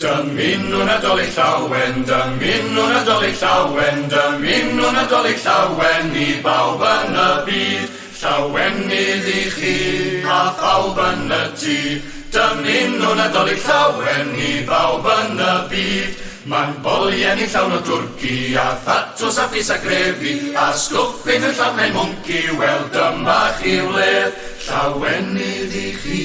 Dymunwn Nadolig Llawen, dymunwn Nadolig Llawen, dymunwn Nadolig Llawen i bawb yn y byd. Llawenydd i chi a phawb yn y tŷ, dymunwn Nadolig Llawen i bawb yn y byd. Mae'n bolien i llawn o dwrci a thatws a phys a grefi a stwffyn yn llawn hen mwnci, wel dyma chi wledd. Llawenydd i chi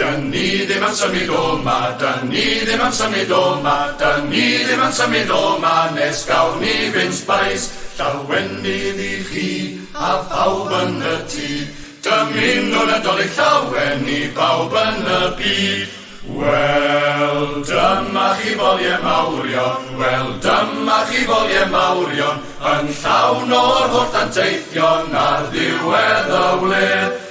Dyn ni ddim am symud o 'ma, dyn ni ddim am symud o 'ma, dyn ni ddim am symud o 'ma nes gawn ni fyn sbais. Llawenydd i chi a phawb yn y tŷ, dymunwn Nadolig Llawen i bawb yn y byd. Wel, dyma chi folie mawrion, wel, dyma chi folie mawrion, yn llawn o'r holl ddanteithion ar ddiwedd y wledd.